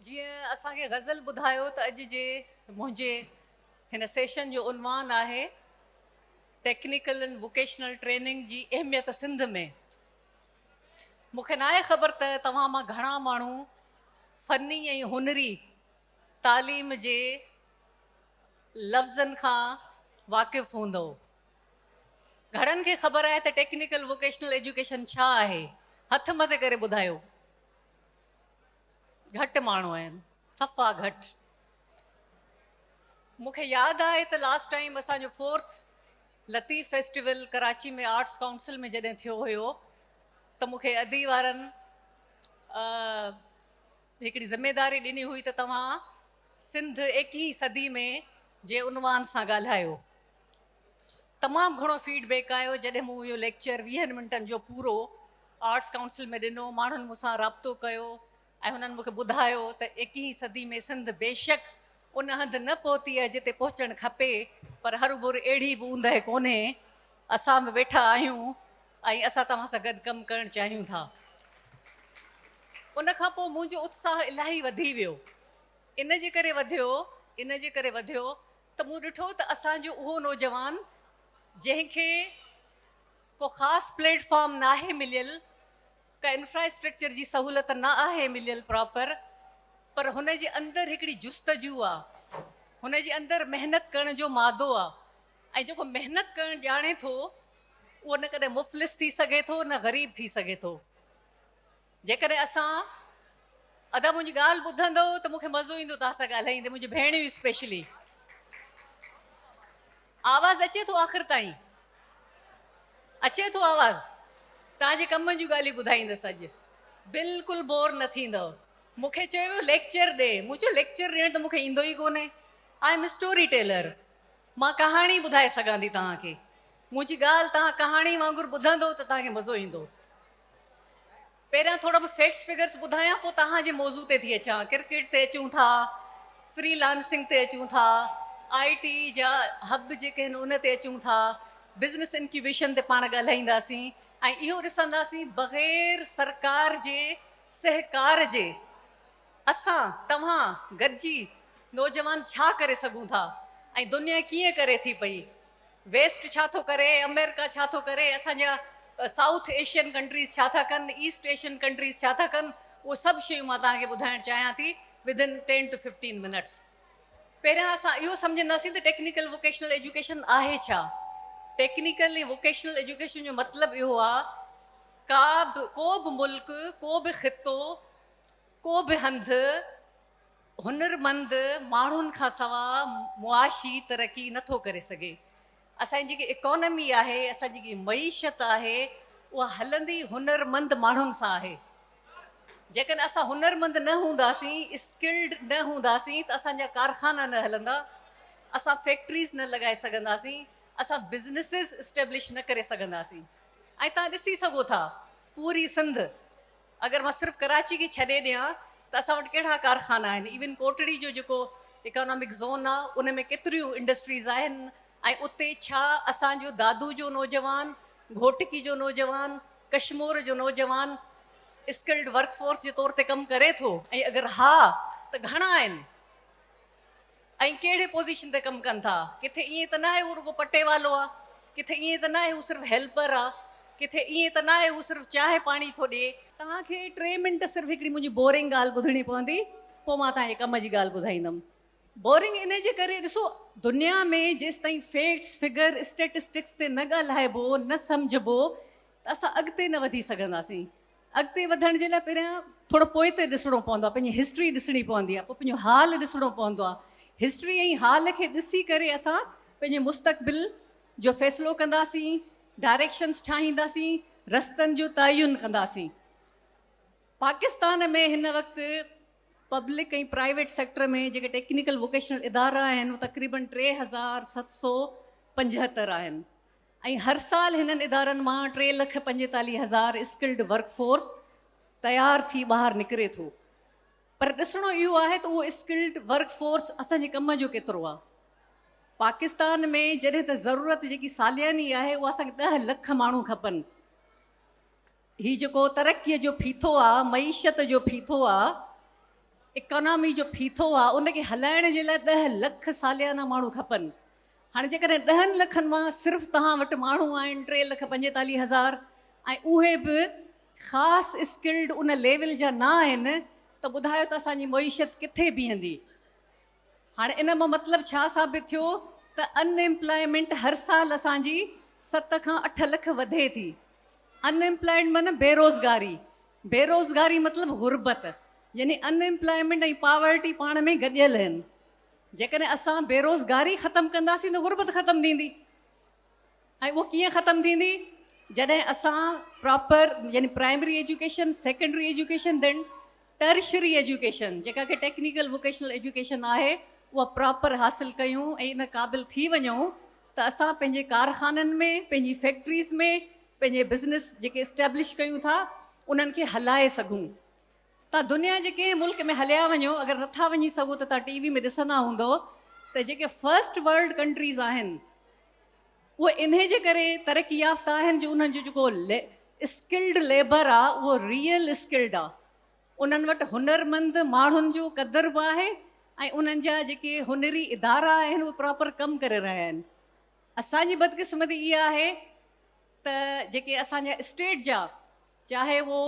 جيئن اسان کي غزل ٻڌايو ته اڄ جي منهنجي هن سيشن جو عنوان آهي ٽيڪنيڪل اينڊ ووڪيشنل ٽريننگ جي اهميت سنڌ ۾ مون کي ناهي خبر ته توهان مان گهڻا ماڻهو فني ۽ هنري تعليم جي لفظن کان واقف هوندو گهڻن کي خبر آهي ته ٽيڪنيڪل ووڪيشنل ايجوڪيشن ڇا آهي هٿ مٿي ڪري ٻڌايو گهٽ ماڻهو آهن صفا گهٽ مون کي ياد آهي ته لاسٽ ٽائيم اسان جو fourth Latif festival Karachi ۾ arts council ۾ جڏهن ٿيو هيو ته مون کي ادي وارن هڪڙي ذميداري ڏني هئي ته توهان سنڌ ايڪيهين صدي ۾ جي عنوان سان ڳالهايو تمام گهڻو فيڊ بيڪ آيو جڏهن مون اهو ليڪچر ويهن منٽن جو پورو آرٽس ڪائونسل ۾ ڏنو ماڻهن مون سان رابطو ڪيو ۽ هنن مون کي ٻڌايو ته ايڪيهين صدي ۾ سنڌ بيشڪ ان هنڌ نه پهتي آهي جتي پهچڻ کپي پر هربر اهڙي به اوندهه ڪونهي اسان به ويٺا آهيون ۽ اسان توهان سان گڏ ڪم ڪرڻ چاهيون ٿا ان کان پوء منهنجو اتساهه الاهي وڌي ويو ان جي ڪري وڌيو ان جي ڪري وڌيو ته مون ڏٺو ته اسان جو اهو نوجوان جنهن کي ڪو خاص پليٽ فارم ناهي مليل، ڪا انفراسٽرڪچر جي سهولت نه آهي مليل پراپر پر هن جي اندر هڪڙي جستجو آ، هن جي اندر محنت ڪرڻ جو مادو آ ۽ جيڪو محنت ڪرڻ ڄاڻي ٿو اهو نه ڪڏهن مفلس ٿي سگهي ٿو نه غريب ٿي سگهي ٿو. جيڪڏهن اسان ادا منهنجي ڳالهه ٻڌندو ته مونکي مزو ايندو توهان سان ڳالهائيندي منهنجي ڀيڻيون اسپيشلي آواز اچي ٿو آخر تائين اچي ٿو آواز توهان جي ڪم جون ڳالهيون ٻڌائيندس اڄ بلڪل بور نه ٿيندو مونکي چيو ويو ليڪچر ڏي مون چيو ليڪچر ڏيڻ ته مونکي ايندو ئي ڪونهي آء ايم اسٽوري ٽيلر مان ڪهاڻي ٻڌائي سگهان ٿي توهان کي منهنجي ڳالهه توهان ڪهاڻي وانگر ٻڌندو ته توهان کي مزو ايندو پهريان ٿورا به فيڪٽس فگرس ٻڌايان پوء توهان جي موضوع تي ٿي اچان ڪرڪيٽ تي اچون ٿا فري لانسنگ تي اچون ٿا آء ٽي جا هب جيڪي آهن ان تي اچون ٿا بزنس انڪيوبيشن تي پاڻ ڳالهائينداسين ۽ اهو ڏسنداسين بغير سرڪار جي سهڪار جي اسان توهان گڏجي نوجوان ڇا ڪري سگهون ٿا ۽ دنيا ڪيئن ڪري ٿي پئي ويسٽ ڇا ٿو ڪري، آمريڪا ڇا ٿو ڪري، اسان جا سائوٿ ايشين ڪنٽريز ڇا ٿا ڪن، ايسٽ ايشين ڪنٽريز ڇا ٿا ڪن، اهو سڀ شيون مان توهان کي ٻڌائڻ چاهيان ٿي Within Ten To Fifteen Minutes. پهريان اسان اهو سمجهنداسين ته ٽيڪنيڪل ووڪيشنل ايجوڪيشن آهي ڇا؟ ٽيڪنيڪل ۽ ووڪيشنل ايجوڪيشن جو مطلب اهو آ ڪا به ڪو به ملڪ، ڪو به خطو، ڪو به هنڌ، هنرمند ماڻهن کان سوا معاشي ترقي نه ٿو ڪري سگهي. اسان جي جيڪي اڪانومي آهي، اسان جي جيڪي معيشت آهي، اها هلندي هنرمند ماڻهن سان آهي. جيڪڏهن اسان هنرمند نه هونداسين، اسڪلڊ نه هونداسين ته اسان جا ڪارخانا نه هلندا، اسان فيڪٽريز نه لڳائي سگهنداسين، اسان بزنسز اسٽيبلش نه ڪري سگهنداسين ۽ توهان ڏسي سگهو ٿا پوري سنڌ، اگر مان صرف ڪراچي کي ڇڏي ڏيان ته اسان وٽ ڪهڙا ڪارخانا آهن ايون ڪوٽڙي جو جيڪو اڪانامڪ زون آ ان ۾ ڪيتريون انڊسٽريز آهن ۽ اتي ڇا اسان جو دادو جو نوجوان گهوٽڪي جو نوجوان ڪشمور جو نوجوان اسڪلڊ ورڪ فورس جي طور تي ڪم ڪري ٿو ۽ اگر ها ته گهڻا آهن. ۽ ڪهڙي پوزيشن تي ڪم ڪن ٿا، ڪٿي ائين ته ناهي هو رڳو پٽي والو آ، ڪٿي ائين ته ناهي هو صرف هيلپر آ، ڪٿي ائين ته ناهي هو صرف چانهه پاڻي ٿو ڏي. توهان کي ٽي منٽ صرف هڪڙي منهنجي بورنگ ڳالهه ٻڌڻي پوندي، پوء مان توهان کي ڪم جي ڳالهه ٻڌائيندم. بورنگ ان جي ڪري، ڏسو دنيا ۾ جيستائين فيڪٽس، فگر، اسٽيٽسٽڪس تي نه ڳالهائبو، نه سمجهبو ته اسان اڳتي نه وڌي سگهنداسين. اڳتي وڌڻ جي لاء پهريان ٿورو پوئتي ڏسڻو پوندو آهي پنهنجي هسٽري ڏسڻي پوندي آهي پوء پنهنجو حال ڏسڻو پوندو آهي هسٽري ۽ حال کي ڏسي ڪري اسان پنهنجي مستقبل جو فيصلو ڪنداسين ڊائريڪشنس ٺاهينداسين رستن جو تعين ڪنداسين پاڪستان ۾ هن وقت پبلڪ ۽ پرائيويٽ سيڪٽر ۾ جيڪي ٽيڪنيڪل ووڪيشنل ادارا آهن تقريبن ٽي هزار ست سو پنجهتر آهن ۽ هر سال هنن ادارن مان ٽي لک پنجيتاليهه هزار اسڪلڊ ورڪ فورس تيار ٿي ٻاهر نڪري ٿو پر ڏسڻو اهو آهي ته اهو اسڪلڊ ورڪ فورس اسان جي ڪم جو ڪيترو آهي پاڪستان ۾ جڏهن ته ضرورت جيڪي سالياني آهي اها اسان کي ڏهه لک ماڻهو کپن. هي جيڪو ترقيء جو ڦيٿو آ، معيشت جو ڦيٿو آ، اڪانامي جو ڦيٿو آ، ان کي هلائڻ جي لاء ڏهه لک ساليانا ماڻهو کپن. هاڻي جيڪڏهن ڏهن لکن مان صرف توهان وٽ ماڻهو آهن ٽي لک پنجيتاليهه هزار ۽ اهي به خاص اسڪلڊ ان ليول جا نه آهن ته ٻڌايو ته اسان جي معيشت ڪٿي بيهندي؟ هاڻي ان مان مطلب ڇا ثابت ٿيو ته ان ايمپلائمينٽ هر سال اسان جي ست کان اٺ لک وڌي ٿي. ان ايمپلائيڊ معنيٰ بيروزگاري. بيروزگاري مطلب غربت. يعني ان ايمپلائمينٽ ۽ پاورٽي پاڻ ۾ گڏيل هن. جيڪڏهن اسان بيروزگاري ختم ڪنداسين ته غربت ختم ٿيندي. ۽ اهو ڪيئن ختم ٿيندي جڏهن اسان پراپر يعني پرائمري ايجوڪيشن سيڪنڊري ايجوڪيشن ڏين ٽرشري ايجوڪيشن جيڪا ڪي ٽيڪنيڪل ووڪيشنل ايجوڪيشن آهي اها پراپر حاصل ڪيون ۽ ان قابل ٿي وڃون ته اسان پنهنجي ڪارخانن ۾ پنهنجي فيڪٽريز ۾ پنهنجي بزنس جيڪي اسٽيبلش ڪيون ٿا انهن کي هلائي سگهون تان دنيا جي ڪنهن ملڪ ۾ هليا وڃو اگر نٿا وڃي سگهو ته تان ٽي وي ۾ ڏسندا هوندو ته جيڪي فرسٽ ورلڊ ڪنٽريز آهن اهي انهي جي ڪري ترقي يافته آهن جو انهن جو جيڪو اسڪلڊ ليبر آ اهو ريئل اسڪلڊ آ انهن وٽ هنر مند ماڻهن جو قدر به آهي ۽ انهن جا جيڪي هنري ادارا آهن اهي پراپر ڪم ڪري رهيا آهن اسان جي بدقسمتي اها آهي ته جيڪي اسان جا اسٽيٽ جا چاهي اهو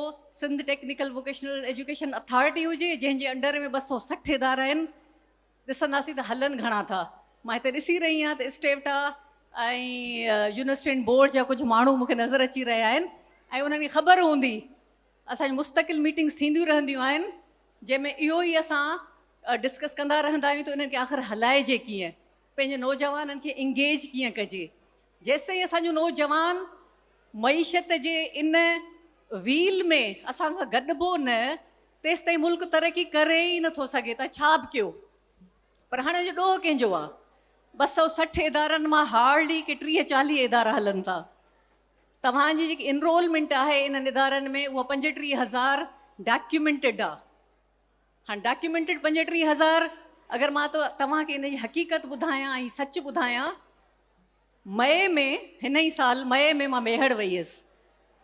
Sindh Technical vocational Education Authority هجي جنهن جي انڊر ۾ ٻه سؤ سٺ ادارا آهن ڏسنداسين ته هلن گهڻا ٿا مان هتي ڏسي رهي آهيان ته اسٽيوٽا ۽ يونيورسٽين بورڊ جا ڪجهه ماڻهو مونکي نظر اچي رهيا آهن ۽ انهن کي خبر هوندي اسان جي مستقل ميٽنگس ٿينديون رهنديون آهن جنهن ۾ اهو ئي اسان ڊسڪس ڪندا رهندا آهيون ته انهن کي آخر هلائجي ڪيئن پنهنجي نوجوانن کي انگيج ڪيئن ڪجي؟ جيستائين اسان جو نوجوان معيشت جي ان ويل ۾ اسان سان گڏبو نه تيستائين ملڪ ترقي ڪري ئي نه ٿو سگهي ته ڇا به ڪيو پر هاڻي جو ڏوهه ڪنهن جو آ؟ ٻه سؤ سٺ ادارن مان هارڊلي ڪي ٽيهه چاليهه ادارا هلن ٿا توهان جي جيڪي انرولمينٽ آهي انهن ادارن ۾ اها پنجٽيهه هزار ڊاڪيومينٽيڊ آ هاڻ ڊاڪيومينٽڊ پنجٽيهه هزار اگر مان توهان کي ان جي حقيقت ٻڌايان ۽ سچ ٻڌايان مئي ۾ هن ئي سال مئي ۾ مان ميهڙ وئي هيس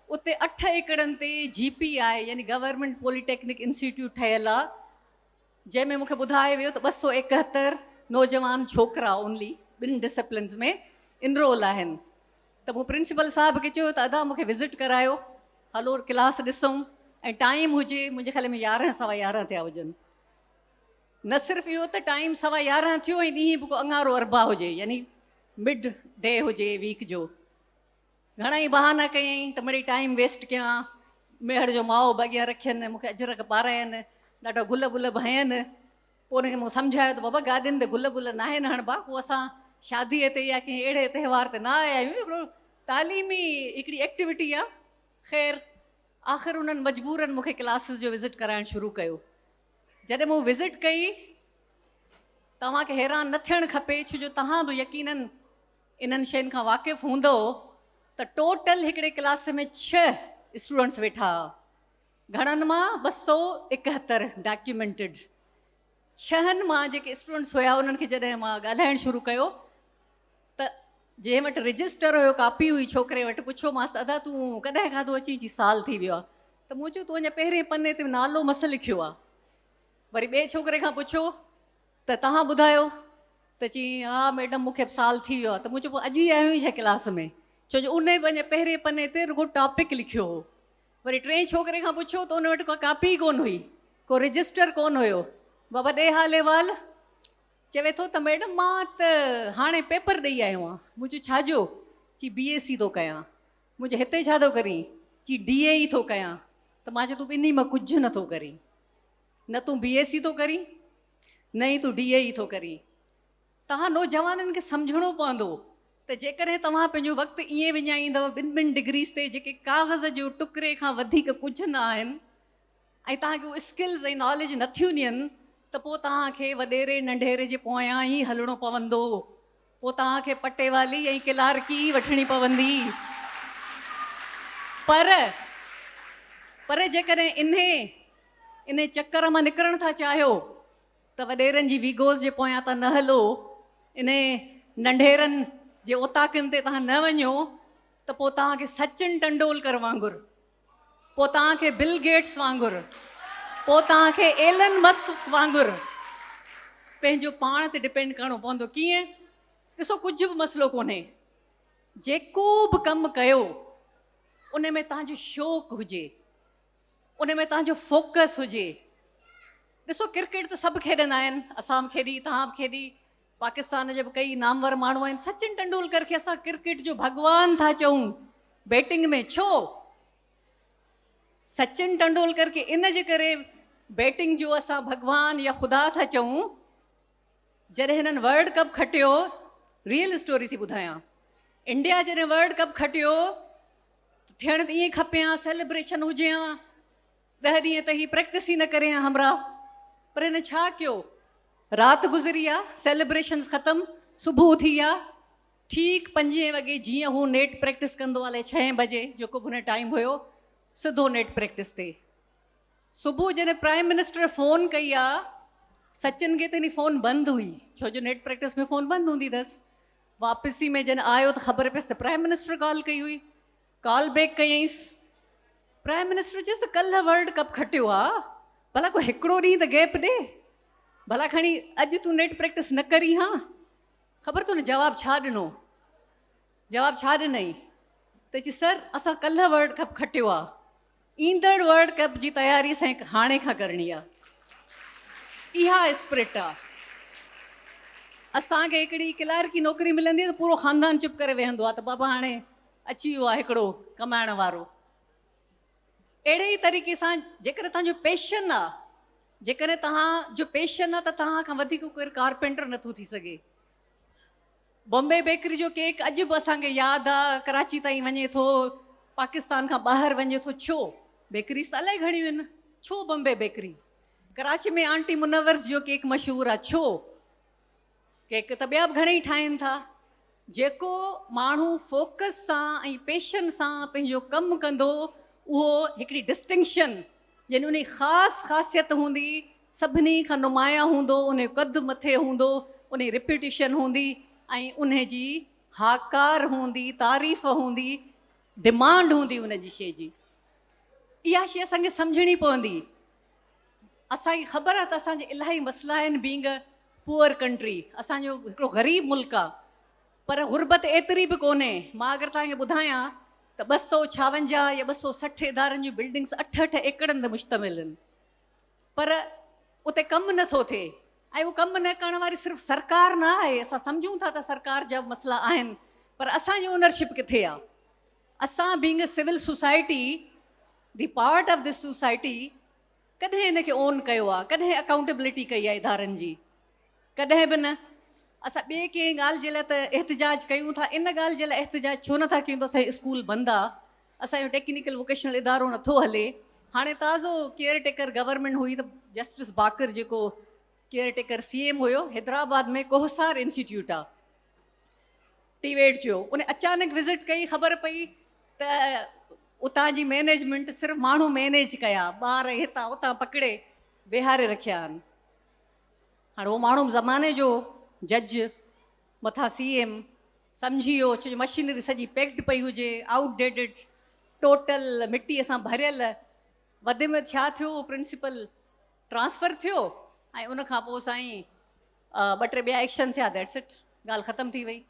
اتي اٺ ايڪڙن تي جي پي آء يعني گورنمينٽ پولي ٽيڪنڪ انسٽيٽيوٽ ٺهيل آ جنهن ۾ مونکي ٻڌايو ويو ته ٻه سؤ ايڪهتر نوجوان ڇوڪرا اونلي ٻن ڊسپلنز ۾ انرول آهن ته مون پرنسپل صاحب کي چيو ته ادا مون کي وزٽ ڪرايو هلو ڪلاس ڏسون ۽ ٽائيم هجي منهنجي خيال ۾ يارهن سوا يارهن ٿيا هجن نه صرف اهو ته ٽائيم سوا يارهن ٿيو ۽ ڏينهن به ڪو اڱارو اربع هجي يعني مڊ ڊي هجي ويڪ جو گهڻا ئي بهانا ڪيائين ته مڙي ٽائيم ويسٽ ڪيان ميهڙ جو ماء به اڳيان رکين مون کي اجرڪ پاراين ڏاڍا گل بل به هنين پوء هن کي مون سمجهايو ته بابا گاڏين تي گل بل ناهن هڻبا، هو اسان شاديء تي يا ڪنهن اهڙي تهوار تي نه آيا آهيون، هڪڙو تعليمي هڪڙي ايڪٽيوٽي آ. خير آخر انهن مجبورن مون کي ڪلاسز جو وزٽ ڪرائڻ شروع ڪيو. جڏهن مون وزٽ ڪئي ته اوهان کي حيران نه ٿيڻ کپي ڇو جو توهان به يقينن انهن شين کان واقف هوندؤ ته ٽوٽل هڪڙي ڪلاس ۾ ڇهه اسٽوڊنٽس ويٺا ها. گهڻن مان ٻه سؤ اڪهتر ڊاڪيومينٽڊ ڇهن مان جيڪي اسٽوڊنٽس هيا انهن کي جڏهن مان ڳالهائڻ شروع ڪيو ته جنهن وٽ رجسٽر هيو ڪاپي هئي ڇوڪري وٽ پڇيومانس ته ادا تون ڪڏهن کاڌو اچي چي سال ٿي ويو آهي ته مون چيو تون اڃا پهرين پني تي نالو مس لکيو آهي وري ٻئي ڇوڪري کان پڇيو ته تهان ٻڌايو ته چي ها ميڊم مون کي به سال ٿي ويو آهي ته مون چيو پوء اڄ ئي آيو آهين ڇا ڪلاس ۾ ڇو جو ان به اڃا پهرين پني تي رڳو ٽاپڪ لکيو هو وري ٽئين ڇوڪري کان پڇيو ته ان وٽ ڪا ڪاپي ڪونه هئي، ڪو رجسٽر ڪونه هيو. بابا ڏيهالي وال چوي ٿو ته ميڊم مان ته هاڻي پيپر ڏئي آيو آهيان. مون چيو ڇا جو؟ چي بي اي سي ٿو ڪيان. مون چيو هتي ڇا ٿو ڪرين؟ چي ڊي اي اي ٿو ڪيان. ته مان چيو تون ٻنهي مان ڪجهه نه ٿو ڪرين. نه تون بي اي سي ٿو ڪرين نه ئي تون ڊي اي اي ٿو ڪرين. توهان نوجوانن کي سمجهڻو پوندو ته جيڪڏهن توهان پنهنجو وقت ائين وڃائيندؤ ٻن ٻن ڊگريز تي جيڪي ڪاغذ جو ٽڪري کان وڌيڪ ڪجهه نه آهن ۽ توهان کي اهي اسڪلز ۽ ناليج نه ٿيون ڏين ته پوء توهان کي وڏيري ننڍيري جي پويان ئي هلڻو پوندو پوء توهان کي پٽيوالي ۽ ڪلارڪي ئي وٺڻي پوندي پر پر جيڪڏهن انهي انهي چڪر مان نڪرڻ ٿا چاهيو ته وڏيرن جي ويگوز جي پويان تان نه هلو، انهي ننڍيرن جي اوطاقن تي تان نه وڃو ته پوء تان کي سچن ٽنڊولڪر وانگر، پوء تان کي بل گيٽس وانگر، پوء تان کي ايلن مسڪ وانگر پنهنجو پاڻ تي ڊپينڊ ڪرڻو پوندو. ڪيئن؟ ڏسو ڪجهه به مسئلو ڪونهي، جيڪو به ڪم ڪيو انهي ۾ تان جو شوق هجي، ان ۾ تنهن جو فوڪس هجي ڏسو ڪرڪيٽ ته سڀ کيڏندا آهن اسان به کيڏي تهان به کيڏي پاڪستان جي به ڪئي نامور ماڻهو آهن سچن ٽنڊولڪر کي اسان ڪرڪيٽ جو ڀڳوان ٿا چئون بيٽنگ ۾ ڇو سچن ٽنڊولڪر کي ان جي ڪري بيٽنگ جو اسان ڀڳوان يا خدا ٿا چئون جڏهن هنن ورلڊ ڪپ کٽيو ريئل اسٽوري ٿي ٻڌايان انڊيا جڏهن ورلڊ ڪپ کٽيو ٿيڻ ته ائين کپي ها سيليبريشن هجي ها ڏهه ڏينهن ته هي پريڪٽس ئي نه ڪري ها همراهه پر هن ڇا ڪيو رات گذري آ سيليبريشنز ختم صبح ٿي آ ٺيڪ پنجين وڳي جيئن هو نيٽ پريڪٽس ڪندو آ لي ڇهين بجي جيڪو به هن ٽائيم هيو سڌو نيٽ پريڪٽس تي صبح جڏهن پرائيم منسٽر فون ڪئي آ سچن کي ته اني فون بند هئي ڇو جو نيٽ پريڪٽس ۾ فون بند هوندي ٿس واپسي ۾ جڏهن آيو ته خبر پيس ته پرائيم منسٽر ڪال ڪئي هئي ڪال بيڪ ڪيئيس پرائيم منسٽر چيس ته ڪلهه ورلڊ ڪپ کٽيو آ ڀلا ڪو هڪڙو ڏينهن ته گيپ ڏي ڀلا کڻي اڄ تون نيٽ پريڪٽس نه ڪري ها خبر تو نه جواب ڇا ڏنو جواب ڇا ڏنئي ته چي سر اسان ڪلهه ورلڊ ڪپ کٽيو آ ايندڙ ورلڊ ڪپ جي تياري سائين هاڻي کان ڪرڻي آ اها اسپرٽ آ اسان کي هڪڙي ڪلارڪي نوڪري ملندي ته پورو خاندان چپ ڪري ويهندو آ ته بابا هاڻي اچي ويو آ هڪڙو ڪمائڻ وارو اهڙي ئي طريقي سان جيڪڏهن توهان جو پيشن آ جيڪڏهن توهان جو پيشن آ ته توهان کان وڌيڪ ڪير ڪارپينٽر نٿو ٿي سگهي بامبي بيڪري جو ڪيڪ اڄ به اسان کي ياد آ ڪراچي تائين وڃي ٿو پاڪستان کان ٻاهر وڃي ٿو ڇو بيڪريز ته الائي گهڻيون ان ڇو بمبي بيڪري ڪراچي ۾ آنٽي منورس جو ڪيڪ مشهور آ ڇو ڪيڪ ته ٻيا به گهڻي ٺاهين ٿا جيڪو ماڻهو فوڪس سان ۽ پيشن سان پنهنجو ڪم ڪندو اهو هڪڙي ڊسٽنڪشن يعني ان خاص خاصيت هوندي سڀني کان نمايان هوندو، انهيو قد مٿي هوندو، انهيء ريپيوٽيشن هوندي ۽ انهي جي هاڪار هوندي، تعريف هوندي، ڊمانڊ هوندي ان جي شيء جي. اها شيء اسان کي سمجهڻي پوندي. اسان کي خبر آهي ته اسان جي الاهي مسئلا آهن بينگ اي پوئر ڪنٽري، اسان جو هڪڙو غريب ملڪ آهي پر غربت ايتري به ڪونهي. مان اگر توهان کي ٻڌايان ته ٻه سؤ ڇاونجاهه يا ٻه سؤ سٺ ادارن جون بلڊنگس اٺ اٺ ايڪڙن تي مشتمل آهن. پر اتي ڪم نه ٿو ٿئي ۽ اهو ڪم نه ڪرڻ واري صرف سرڪار نه آهي، اسان سمجهون ٿا ته سرڪار جا به مسئلا آهن پر اسان جي اونرشپ ڪٿي آهي؟ اسان being a civil society the part of this society ڪڏهن ان کي اون ڪيو آهي؟ ڪڏهن اڪائونٽيبلٽي ڪئي آهي ادارن جي؟ ڪڏهن به نه. اسان ٻي ڪنهن ڳالهه جي لاء ته احتجاج ڪيون ٿا، ان ڳالهه جي لاء احتجاج ڇو نه ٿا ڪيون ته اسان جي اسڪول بند آهي، اسان جو ٽيڪنيڪل ووڪيشنل ادارو نه ٿو هلي هاڻي تازو ڪيئر ٽيڪر گورنمينٽ هئي ته جسٽس باقر جيڪو ڪيئر ٽيڪر سي ايم هيو حيدرآباد ۾ ڪوهسار انسٽيٽيوٽ آ ٽي ويٽ جو ان اچانڪ وزٽ ڪئي خبر پئي ته اتان جي مينيجمنٽ صرف ماڻهو مينيج ڪيا ٻار هتان اتان پڪڙي ويهاري رکيا آهن هاڻي اهو ماڻهو زماني جو جج مٿان سي ايم سمجهي ويو ڇو جو مشينري سڄي پيڪڊ پئي هجي آئوٽ ڊيڊڊ ٽوٽل مٽي سان ڀريل وڌ ۾ ڇا ٿيو اهو پرنسپل ٽرانسفر ٿيو ۽ ان کان پوء سائين ٻه ٽي ٻيا ايڪشن ٿيا ديٽس اٽ ڳالهه ختم ٿي وئي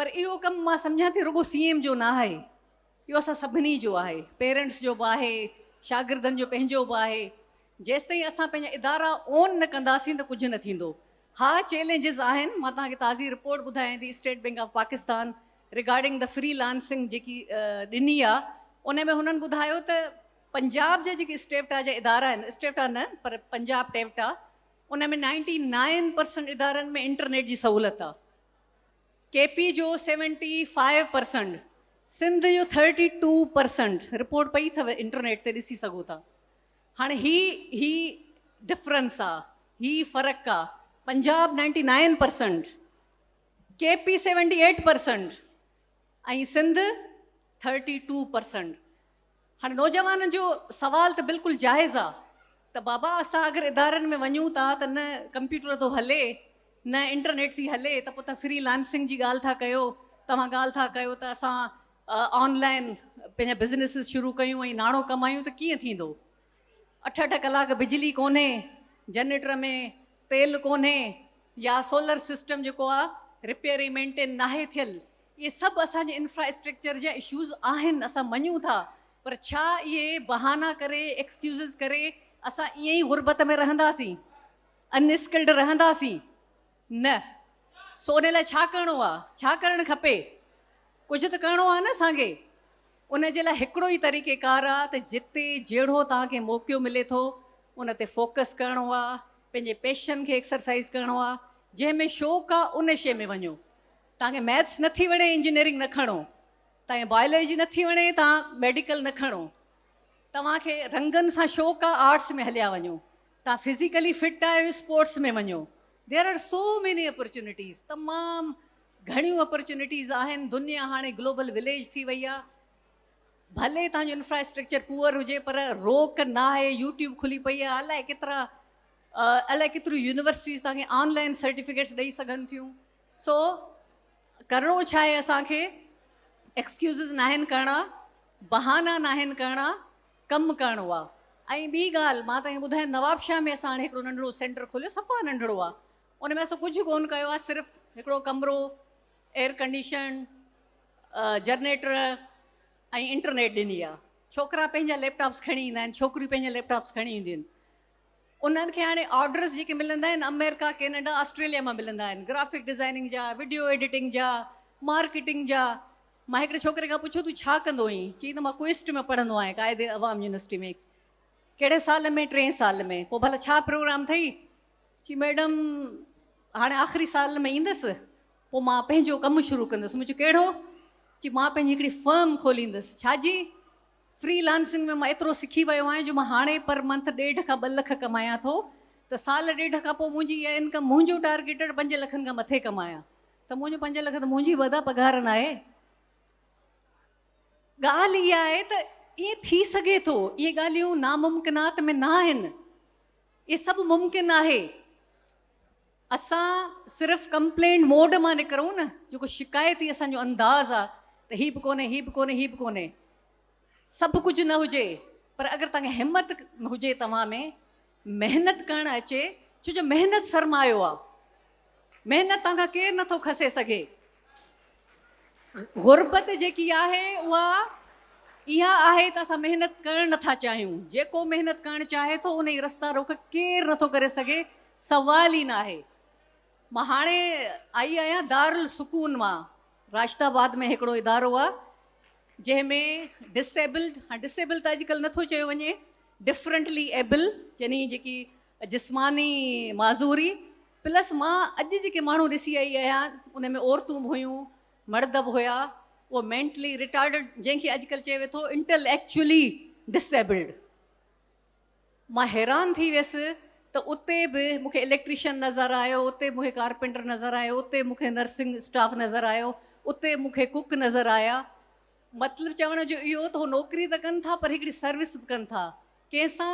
پر اهو ڪم مان سمجهان ٿي رڳو سي ايم جو نه آهي اهو اسان سڀني جو آهي پيرنٽس جو به آهي شاگردن جو پنهنجو به آهي جيستائين اسان پنهنجا ادارا اون نه ڪنداسين ته ڪجهه نه ٿيندو ها چئلينجز آهن مان توهان کي تازي رپورٽ ٻڌايان ٿي State Bank of Pakistan regarding the freelancing جيڪي ڏني آ ان ۾ هنن ٻڌايو ته پنجاب جا جيڪي اسٽيوٽا جا ادارا آهن اسٽيوٽا نه پر پنجاب ٽيوٽا ان ۾ نائنٽي نائن پرسنٽ ادارن ۾ انٽرنيٽ جي سهولت آ ڪي پي جو سيونٽي فائيو پرسنٽ سنڌ جو ٿرٽي ٽو پرسنٽ رپورٽ پئي اٿو انٽرنيٽ تي ڏسي سگهو ٿا هاڻي هي هي ڊفرنس آ هي فرق آ Punjab ninety nine percent K P seventy eight percent ۽ Sindh thirty two percent هاڻي نوجوانن جو سوال ته بلڪل جائز آ ته بابا اسان اگر ادارن ۾ وڃون ٿا ته نه ڪمپيوٽر ٿو هلي نه انٽرنيٽ ٿي هلي ته پوء تون فري لانسنگ جي ڳالهه ٿا ڪيو توهان ڳالهه ٿا ڪيو ته اسان آن لائن پنهنجا بزنيسز شروع ڪيون ۽ ناڻو ڪمايون ته ڪيئن ٿيندو اٺ اٺ ڪلاڪ بجلي ڪونهي جنريٽر ۾ تيل ڪونهي يا سولر سسٽم جيڪو آ رپيئر ۽ مينٽين ناهي ٿيل اهي سڀ اسان جي انفرا اسٽريڪچر جا اشوز آهن اسان مڃون ٿا پر ڇا اهي بهانا ڪري ايڪسڪيوزز ڪري اسان ائين ئي غربت ۾ رهنداسين ان اسڪلڊ رهنداسين. نه، سو ان لاء ڇا ڪرڻو آ؟ ڇا ڪرڻ کپي؟ ڪجهه ته ڪرڻو آ نه اسان کي؟ ان جي لاء هڪڙو ئي طريقيڪار آ ته جتي جهڙو توهان کي موقعو ملي ٿو ان تي فوڪس ڪرڻو آ، پنهنجي پيشن کي ايڪسرسائيز ڪرڻو آ، جنهن ۾ شوق آ ان شيء ۾ وڃو. توهان کي ميٿس نه ٿي وڻي انجنيئرنگ نه کڻو، توهان کي بائيولوجي نه ٿي وڻي توهان ميڊيڪل نه کڻو، توهان کي رنگن سان شوق آ آرٽس ۾ هليا وڃو. توهان فزيڪلي فٽ آهيو اسپورٽس ۾ وڃو there are so many opportunities تمام گهڻيون اپرچونيٽيز آهن دنيا هاڻي گلوبل وليج ٿي وئي آهي ڀلي توهان جو انفراسٽرڪچر پوئر هجي پر روڪ ناهي يوٽيوب کلي پئي آهي الائي ڪيترا الائي ڪيتريون يونيورسٽيز توهان کي آن لائن سرٽيفڪيٽس ڏئي سگهن ٿيون سو ڪرڻو ڇا آهي اسان کي ايڪسڪيوزز ناهن ڪرڻا بهانا ناهن ڪرڻا ڪم ڪرڻو آ ۽ ٻي ڳالهه مان تنهن کي ٻڌايم نوابشاهه ۾ اسان هاڻي هڪڙو ننڍڙو سينٽر کوليو صفا ننڍڙو آ ان ۾ اسان ڪجهه ڪون ڪيو آ صرف هڪڙو ڪمرو ايئر ڪنڊيشن جرنيٽر ۽ انٽرنيٽ ڏني آ ڇوڪرا پنهنجا ليپ ٽاپس کڻي ايندا آهن ڇوڪريون پنهنجا ليپ ٽاپس کڻي اينديون آهن انهن کي هاڻي آرڊرس جيڪي ملندا آهن آمريڪا ڪينيڊا آسٽريليا مان ملندا آهن گرافڪ ڊزائننگ جا وڊيو ايڊيٽنگ جا مارڪيٽنگ جا مان هڪڙي ڇوڪري کان پڇيو تون ڇا ڪندو هئين؟ چيائين ته مان ڪوئسٽ ۾ پڙهندو آهيان قائد عوام يونيورسٽي ۾. ڪهڙي سال ۾؟ ٽئين سال ۾. پوء ڀلا ڇا پروگرام اٿئي؟ چي ميڊم هاڻي آخري سال ۾ ايندس پوء مان پنهنجو ڪم شروع ڪندس. مون چيو ڪهڙو؟ چي مان پنهنجي هڪڙي فرم کوليندس. ڇا جي؟ فري لانسنگ ۾ مان ايترو سکي ويو آهيان جو مان هاڻي پر منٿ ڏيڍ کان ٻه لک ڪمايان ٿو ته سال ڏيڍ کان پوء منهنجي اها انڪم منهنجو ٽارگيٽڊ پنج لکن کان مٿي ڪمايان. ته منهنجو پنج لک ته منهنجي ودا پگهار ناهي. ڳالهه اها آهي ته ائين ٿي سگهي ٿو، اهي ڳالهيون ناممڪنات ۾ ناهن، اهي سڀ ممڪن آهي، اسان صرف ڪمپلينٽ موڊ مان نڪرون نه، جيڪو شڪايتي اسان جو انداز آهي ته هي به ڪونهي، هي به ڪونهي، هي به ڪونهي. سڀ ڪجهه نه هجي پر اگر توهان کي همت هجي توهان ۾ محنت ڪرڻ اچي ڇو جو محنت سرمايو آ محنت توهان کان ڪير نٿو کسي سگهي غربت جيڪي آهي اها اها آهي ته اسان محنت ڪرڻ نٿا چاهيون جيڪو محنت ڪرڻ چاهي ٿو انهي رستا روڪ ڪير نٿو ڪري سگهي سوال ئي ناهي مان هاڻي آئي آهيان دارالسڪون مان راشد آباد ۾ هڪڙو ادارو آ جنهن ۾ ڊس ايبلڊ ها ڊس ايبل ته اڄڪلهه نٿو چيو وڃي ڊفرنٽلي ايبل يعني جيڪي جسماني معذوري پلس مان اڄ جيڪي ماڻهو ڏسي آئي آهيان ان ۾ عورتون به هيون مرد به هيا اهو مينٽلي رٽارڊ جنهن کي اڄڪلهه چيو ويو ٿو انٽل ايڪچولي ڊس ايبلڊ مان حيران ٿي ويس ته اتي به مون کي اليڪٽريشن نظر آيو، اتي مون کي ڪارپينٽر نظر آيو، اتي مون کي نرسنگ اسٽاف نظر آيو، اتي مون کي ڪوڪ نظر آيا. مطلب چوڻ جو اهو ته هو نوڪري ته ڪن ٿا پر هڪڙي سروس به ڪن ٿا. ڪنهن سان؟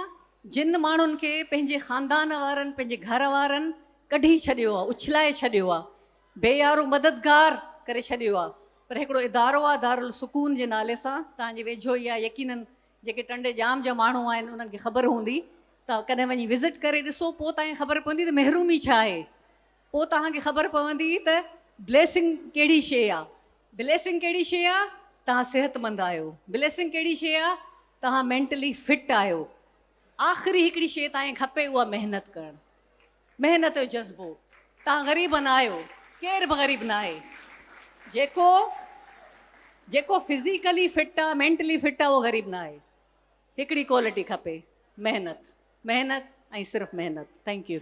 جن ماڻهن کي پنهنجي خاندان وارن، پنهنجي گهر وارن ڪڍي ڇڏيو آ، اڇلائي ڇڏيو آ، بي يارو مددگار ڪري ڇڏيو آ. پر هڪڙو ادارو آ دارالسڪون جي نالي سان، توهان جي ويجهو ئي آ يقينن جيڪي ٽنڊي ڄام جا ماڻهو آهن انهن کي خبر هوندي ته ڪڏهن وڃي وزٽ ڪري ڏسو پوء تهان کي خبر پوندي ته محرومي ڇا آهي پوء تهان کي خبر پوندي ته بليسنگ ڪهڙي شيء آ بليسنگ ڪهڙي شيء آ تهان صحتمند آهيو بليسنگ ڪهڙي شيء آ تهان مينٽلي فٽ آهيو آخري هڪڙي شيء تهان کي کپي اها محنت ڪرڻ. محنت جو جذبو توهان غريب نه آهيو ڪير به غريب نه آهي جيڪو جيڪو فزيڪلي فٽ آهي مينٽلي فٽ آهي اهو غريب نه آهي هڪڙي ڪوالٽي کپي محنت محنت ۽ صرف محنت ٿينڪ يو